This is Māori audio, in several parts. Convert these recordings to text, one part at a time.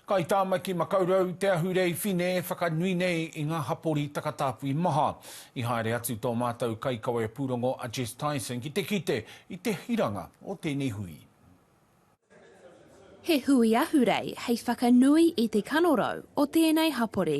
Kai Tāmaki Makaurau te ahurei whine e whakanui nei i ngā hapori takatāpui maha. I haere atu tō mātou kaikawe pūrongo a Jess Tyson ki te kite i te hiranga o tēnei hui. He hui ahurei hei whakanui i te kanorau o tēnei hapori.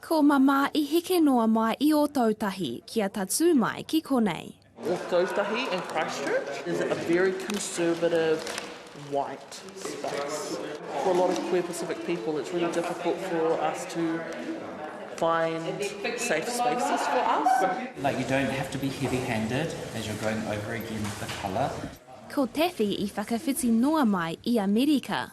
Ko Mama i heke noa mai i Ōtautahi kia tatū mai ki konei. Ōtautahi and Christchurch is a very conservative white space. For a lot of queer Pacific people it's really difficult for us to find safe spaces for us. Like you don't have to be heavy handed as you're going over again the colour. Ko Taffy i whakawhiti noa mai i Amerika.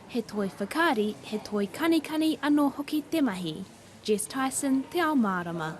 He toi whakaari, he toi kanikani anō hoki te mahi. Jess Tyson, Te Ao Mārama.